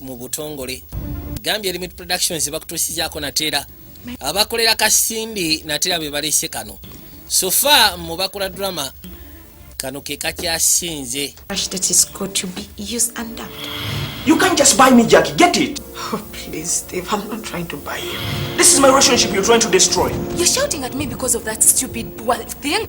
mu butongole gambye limit productions bakutusizaako nateera abakolera kasindi nateera bebalese kano sofa mu bakola drama kano ke kakyasinze You can't just buy me, Jackie. Get it. Oh, please, Steve. I'm not trying to buy you. This is my relationship you're trying to destroy. You're shouting at me because of that stupid well thing.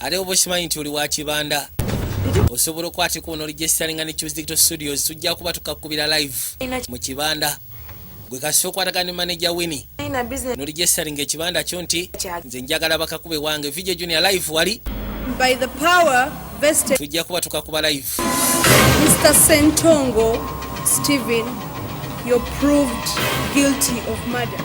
ate oba okimanyi nti oli wa kibanda osobola okwatika onolijesisalinga ne choose digital studios tujja kuba tukakubira live mu kibanda gwe kasita okwatagana ne manaja wini nolijesisalinga ekibanda kyo nti nze njagala bakakube wange video junior live wali by the power vested tujja kuba tukakuba live mr sentongo stephen you're proved guilty of murder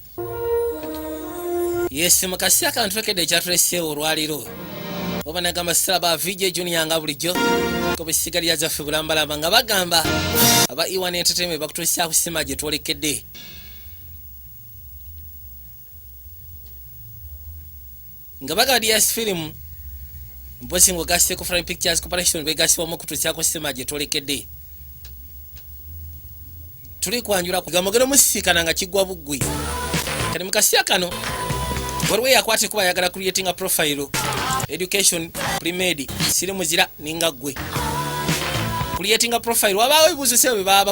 yesi mu kaseera kano twekedde ekyatuleseewo olwaliro oba nagamba sala ba vj junior nga bulijjo ku bisigalira zaffe bulambalamba nga bagamba aba iwan entertainment bakutuusa kusima gye twolekedde nga bagadi ya firimu mpozi nga ogaseko fri pictures corporation begasibwamu okutuusyako sima gye tolekedde tuli kwanjula kugamogero musisikana nga kigwa buggwi kati mu kasiya kano waliwo eyakwata ekuba ayagala creatinga profile education primed siri muzira ninga ggwe creatinga profile wabaawo ebibuuzo sebo bye baba